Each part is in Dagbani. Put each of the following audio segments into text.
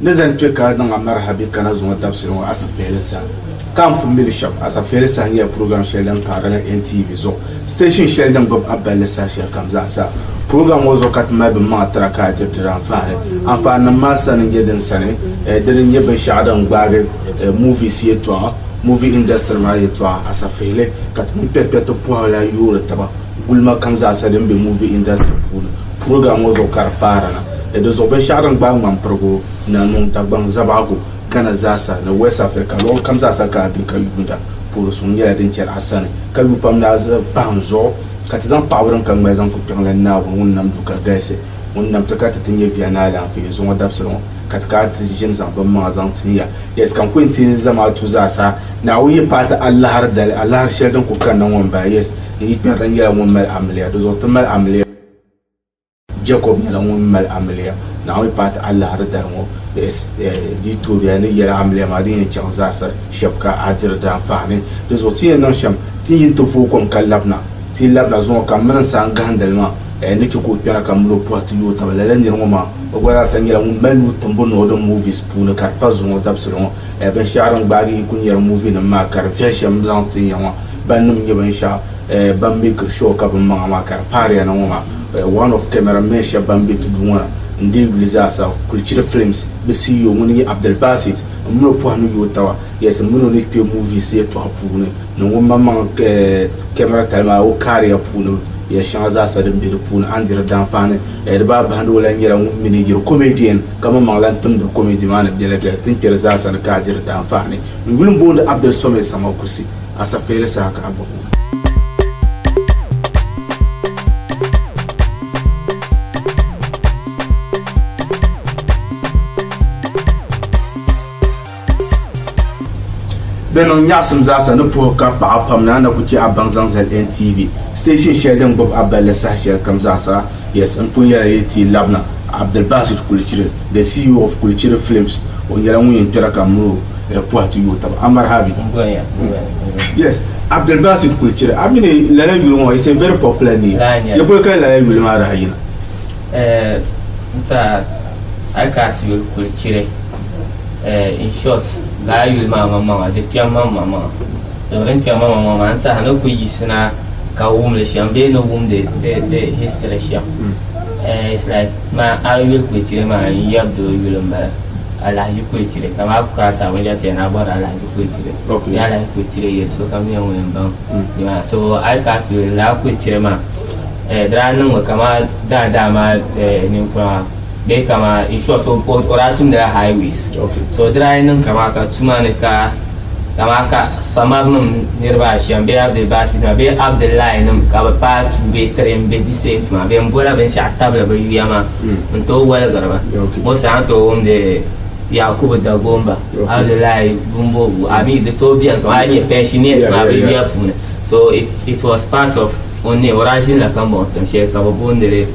Ni zani kpe ka niŋ America bɛ kana zuŋɔ dabisili ŋɔ asafeeli saha. Ka n pun mili shɛba, asafeeli saha nyɛla program shɛli din paari ni NTV zuɣu, station shɛli din gbubi a balli saha shɛli kam zaa sa. Program ŋɔ zuɣu ka ti mali binmaŋa tira ka a diri di anfaani. Anfaani nim maa sani n-nyɛ din sani, di ni nyɛ binshɛɣu din gbaagi movies yɛtɔɣa, movie industry maa yɛtɔɣa, asafeeli ka ti mini kpɛrikpɛriti pɔhila yoori taba. Gulima kam zaasa din be movie industry puuni program ŋɔ zuɣu ka di paara na ni di zuɣu binshɛɣu din gbaai ŋmanpirigu na niŋ Dagbaŋ Zabaɣigu, Ghana zaasa ni West Africa luɣili kam zaasa ka a be ka yuunda puhiri suŋ nyɛla din chɛli a sani ka lu pam ni a zi pahi n zuɣu ka ti zaŋ paɣibu din ka ŋmali zaŋ kpi kpiɛŋ la Naawuni ŋun nam du ka galisi, ŋun nam ti ka ti ti nyɛ via ni alaanfee zuŋɔ dabisili ŋɔ ka ti kana ti ʒini zaŋ bimmaŋa zaŋ tin ya. Yes ka n ku yɛn teei n zamaatu zaasa Naawuni yi paai ti alahiri dali alahiri shɛli din ku kanna ŋɔ m-bala. Yes. Di yi kpɛri, di nyɛla ŋun mali amiliya, di zuɣu ti mali amiliya. Jɛkɔb nyɛla ŋun mali amiliya Naawuni paati alahiri dari ŋɔ. Bs di yi tooi bɛhiya ni yɛla amiliya maa din yɛn chaŋ zaasa shɛb ka a diri di anfaani. Di zuɣu ti yɛn niŋ shɛm, ti yin ti vooi kom ka labina. Ti yi labina zuŋɔ ka m mini n saha n gahindi li maa, n ni chɛ ka o kpɛna ka m mini o pɔhi ti yooi taba. Lala nir ŋɔ maa, o gba zaasa nyɛla ŋun mali nuu timbu niŋ o di movies puuni ka di pa zuŋɔ dabisili ŋɔ. Binshɛɣu din gbaagi yi kuli nyari muvinim maa ka di viɛli shɛm m zaŋ ti ya ŋɔ ban nim nyɛ binshɛɣu ban meekiri shɔɔ ka binmaŋa maa ka di paariya na ŋɔ maa one of camera men shɛb ban be ti duu ŋɔ na n dii yuli zaasa kuli chiri films bɛ CEO ŋun nyɛ Abdulbasit m min o pɔhi ni yooi taba yes m min o ni kpe movies yɛtɔɣa puuni ni ŋunmaŋmaŋ camera tali maa o career puuni yes shɛŋa zaasa din be di puuni a ni diri daanfaani di baa bahindi o lahi nyɛla ŋun minigiri comedian ka mini maŋ lan timdi komiti maa ni biɛla biɛla tin kpɛri zaa sani ka a diri daanfaani. N yuli m-boondi Abdel Somé Senghor Kusi, a safeeli saha ka a bɔbi o. Di niŋ nyaɣisim zaasa ni puhi ka paɣa pam ni a na ku chɛ a baŋ zaŋ zali NTV station shɛli din gbubi a balli saha shɛli kam zaasa. Yes, n pun yɛla yi ti labina, Abdulbasit Kulichiri, the CEO of Kulichiri Films, o nyɛla ŋun yɛn kpɛra ka miri o eh, puhi ti yooi taba. Amarhabi. Yes, Abdulbasit Kulichiri, a mi ni lala yuli ŋɔ, it's a very popular name. Laa nyɛla. Yi boli ka lala yuli maa daa yina? Eh, n-ti a, a yi ka a ti yuli Kulichiri. Eh, in short, laa a yuli maa maŋmaŋa di kpɛm ma maŋmaŋa. So din kpɛm ma maŋmaŋa maa n-tehi ni ku yiɣisina ka wum li shɛm bee ni wumdi di di history shɛm. Eh, it's like ma a yuli Kuyechire maa n yab di o yuli m-bala, Alahaji Kuyechire. Ka ma a ku kara saa ŋun yɛli ti ya ni a bɔri Alahaji Kuyechire. Okay. Bee Alahaji Kuyechire yɛli sokam nyɛ ŋun yɛn baŋ nimaani. So a yi kana ti yuli laa Kuyechire maa, eh, di daa niŋmi kaman daadaa maa eh, ninkura maa. bee kama in short o o daa tumdila highways so o daa niŋ kama ka tuma ni ka kama ka samar nim niriba ashɛm bee abdulbasi nima bee abdullahi nim ka bi paai tuu bee tiri n bɛ di same tuma bɛ n bola binshaɣu tabili bi yuya maa n tooi waligiri ba ŋɔ saa n tooi wumdi yakubu dagomba abdullahi bumbobu a mi di tooi bɛni kama a nyɛ pensioners maa bi yuya puuni so it, it was part of o ne o daa ʒinila ka mɔɣu tiŋ shɛli ka bi boondili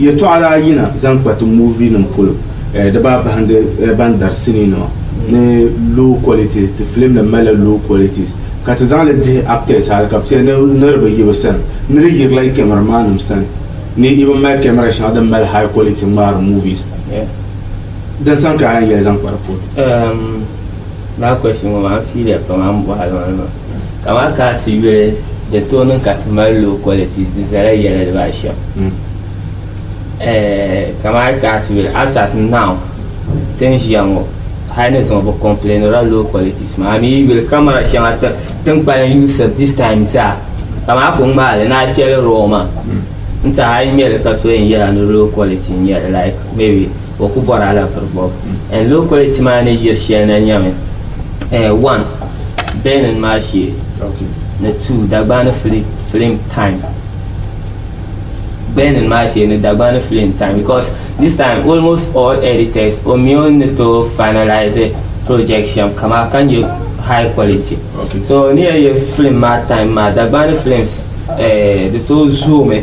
Yɛtɔɣa daa yina zaŋ kpa ti movie nim polo eh, di baa bahindi eh, ban dari sinii nima ni low qualities, ti film nim malila low qualities ka ti zaŋli dihi actors hali ka bi ti yɛli ni di bi yi bi sani ni di yirila yi camera man nim sani ni yi bi mali camera shɛŋa din mali high quality ŋmaari movies eh, din sani ka a yɛn yɛli zaŋ kpa di polo. Ehm, Lala question ŋɔ maa n fiiliya pam a ni bɔhi a luɣili maa. Ka amaa ka a ti yuli din tooi niŋ ka ti mali low qualities di zala yɛla diba a shɛm. Ɛɛh ka maa ka a ti yuli as at now ti ni ʒiya ŋɔ hali ni zuŋɔ bi complainira low qualities maa a mi yi yuli camera shɛŋa ti ni kpalim yuusiri this time zaa ka maa ku ŋmaai li ni a cheli raw maa n ti a yi nya li ka so yɛn yɛla ni low quality n nyɛli like maybe. O ku bɔri alampiri bɔbu n lokoliti maa ni yiri shɛli na nyami, one, Benin maa shee ni two, Dagbani film time Benin maa shee ni Dagbani film time because this time almost all editors o mi o ni tooi finalise project shɛm ka maa ka nyɛ high quality so n ni yɛn yɛ film maa time maa Dagbani films di tooi zoomi.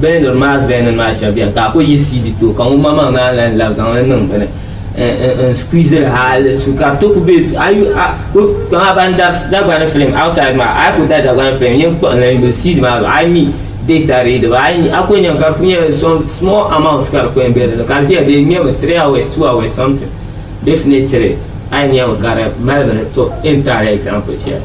Bɛniri maa zuya ni maa shɛb beni ka a ku yi CD ti o ka ŋun maŋmaŋ naan lan labi zaŋ li niŋ bini n-squeeziri hali su ka ti ku be du a yu a ku kpaŋ a ban dari Dagbani film outside maa a yi ku dari Dagbani film yin kpuɣi n-lan yuli CD maa zuɣu a yi mi data readable a yi nya a ku nya ka di ku nyɛla some small amount ka di ku yɛn be dini ka di ʒiya di ŋmɛmi three hours two hours something definitely a yi nyami ka di mali bini to in taali example shɛli.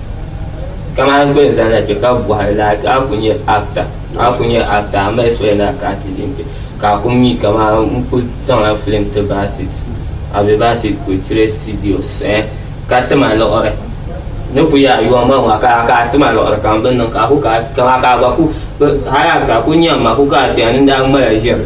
kamani bɛ ni zaŋ na kpe ka bɔhiri la ka a ku nyɛ actor a ku nyɛ actor a mi expect ni a ka artist n kpe ka a ku mi kamani n ku zaŋla film ti Bassey a be Bassey Kulisire studios eh ka tim a liɣiri ni ku yɛli a yɔn ma ŋɔ ka ka a tim a liɣiri ka m bi niŋ ka a ku ka kamani ka a gba ku hali actor a ku nyɛm ma ku kana ti ya ni n daa ŋmala ʒiri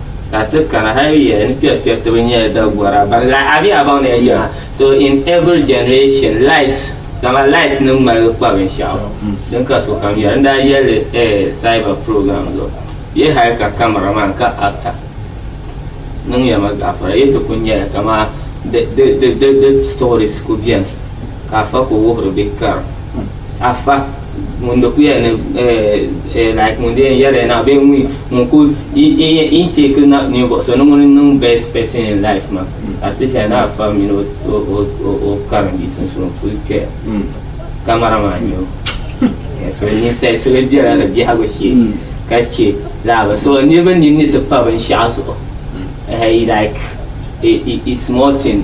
Ka ti kana hal yuya ni kpɛbu kpɛbu ti bi nyɛla dagɔra ban lahi a bee a baŋ ni ya shɛŋa. So in every generation light kaman light ni ŋmaligi kpa binshɛɣu din ka sokam yɛra. N daa yɛli li eh cyber program zuɣu bee hal ka camera man ka actor niŋ ya ma gaafara. Yi ti ku nyɛla kaman di di di di stories ku beni ka a fa ku wuhiri bɛ kara. Afa, ŋun di kuya ni eh, like ŋun di yɛn yɛri na bee ŋun ŋun ku in take na ninvuɣu so ni ŋun niŋ best person in life ma ka ti shɛli na afa mini o karimbi sunsuun ku kpɛ kamara maa nyɛ o so ninsali sili biɛla ni biɛhagu shee ka chɛ laaba so niraba nini ni ti pa binshaɣu zuɣu like i small thing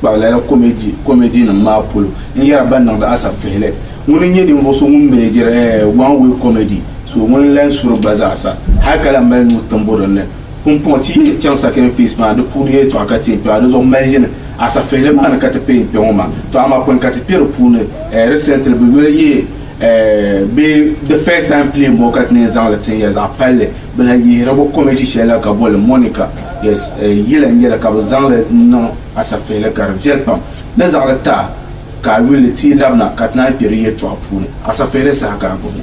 kpab lala komedi nim maa polo n yɛra ban niŋdi Asap Fihili ŋun n nyɛ ninvuɣ so ŋun mɛnɛjiri One Way Comedy so ŋun n lahi suri gba zaa sa hal ka lahi mali nuu timbu din ni pumpɔŋ ti yi yɛn chaŋ Second Phase maa di puuni yɛltɔɣa ka ti yɛn kpɛba di zuɣu maʒini Asap Fihili maa ni ka ti pɛi n kpɛ ŋɔ maa tɔ amaa pɔin ka ti kpɛ di puuni Recently bɛ yoli yi bee The First Time Playing Ball ka ti ni zaŋ li tin ya zaɣ palli bilahi yihirigu kɔmiti shɛli la ka boli Monica yes yila n-yɛli ka bɛ zaŋ li niŋ asafihili ka di viɛli pam ni zaŋ li ti a ka a yuli ti yi labina ka ti naan kpe di yɛltɔɣa puuni asafihili saha ka a gbubi li.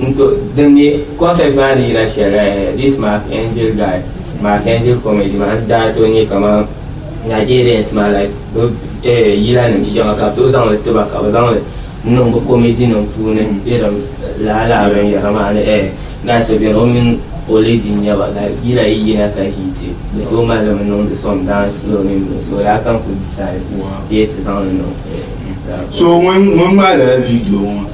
N to, din mi concert maa ni yina shɛl eh, this Mark Angel guy, Mark Angel comedy maa n daa to nyɛ kaman Nigerians maa like bɛ eh yila nim shɛŋa ka bɛ tooi zaŋ li ti ba ka bɛ zaŋ li n niŋ bɛ comedy nim puuni irin lala lala binyɛra maa ni eh naan so beni o mini o lady n nyɛba like yila yi yina ka hit bɛ tooi mali li mi niŋdi some dance floor mini bini so lala ka n kuli decide bee ti zaŋ li niŋ eh. So ŋun ŋun ŋmaali la video ŋɔ?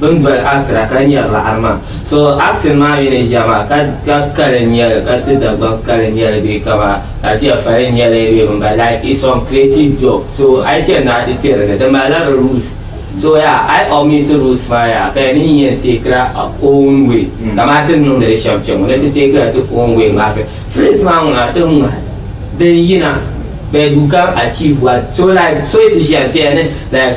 Bini boli Accra ka nyari li Arma. So acting maa mi ni jama ka ka kali n nyɛli ka ti Dagbani kali n nyɛli bee ka ba Asia fali n nyɛli bee bini bala like it's some creative job so ayi chani ni a ti kperi ni di mali la di rules so yaa ayi omit rules maa yaa ka yɛli ni yi yɛn take la a own way kamani ti ni niŋdi li shɛm kpɛŋɔ ni ti take la ti own way maa fi phrase maa ŋuna a ti ŋmahi din yina bɛ du ka achieve what so like so yi ti ʒiya n ti yɛli ni like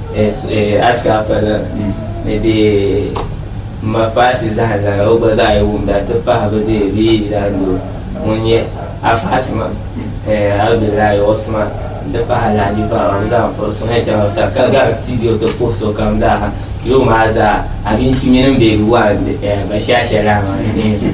Ask her father ni di ma Fati zahim lana o gba zaa yi wumda nti pahi bɛ di bɛ yi yidaandoo ŋun nyɛ Afa Asima, Abdullahi Osman nti pahi Alhaji Bawa bɛ zaa m-puri suhu ni chaŋ sa ka gari studio ti puhi sokam zaa ha. Yuli maa zaa Abinshi mini m beebi waa m-be Bashasha lana maa ni.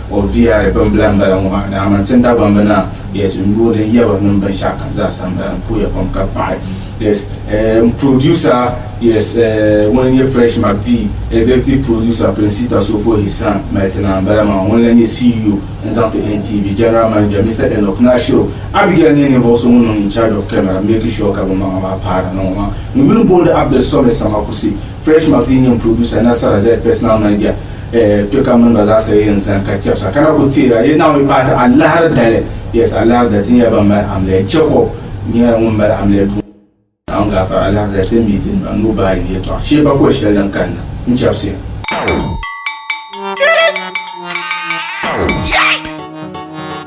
O bia bimbila m-bala ŋɔ maa, dama n tin Dagbaŋ bi naa bɛs n yuuni n yaba mini binshɛɣu kam zaa sa m-bala n puhiya pam ka paɣi yes m producer yes ŋun n-nyɛ Fresh McDee executive producer Princita Sofo his son Melton Naa m-bala maa ŋun lan nyɛ CEO n zaŋ ti NTV general manager Mister Enoch Nashiro Abigail nyɛ ninvuɣ so ŋun niŋ in charge of camera make sure ka binmaŋa maa paara ni ŋɔ maa n yuli booni Abdul Sɔme Samakusi Fresh Martin nyɛm producer, nasara zali personal manager eh kpe ka mini ba zaa sa yen zani ka chɛbisa ka na ku teeri a yɛli Naawuni yi paai ti alahiri dali yes alahiri dali ti nyɛla ban mali amiliya Jacob nyɛla ŋun mali amiliya duuma. Naawuni gaafara alahiri dali ti mi ti ni ba nuu baayi yɛltɔɣa shee pa koli shɛli din kanna n chɛbisiya.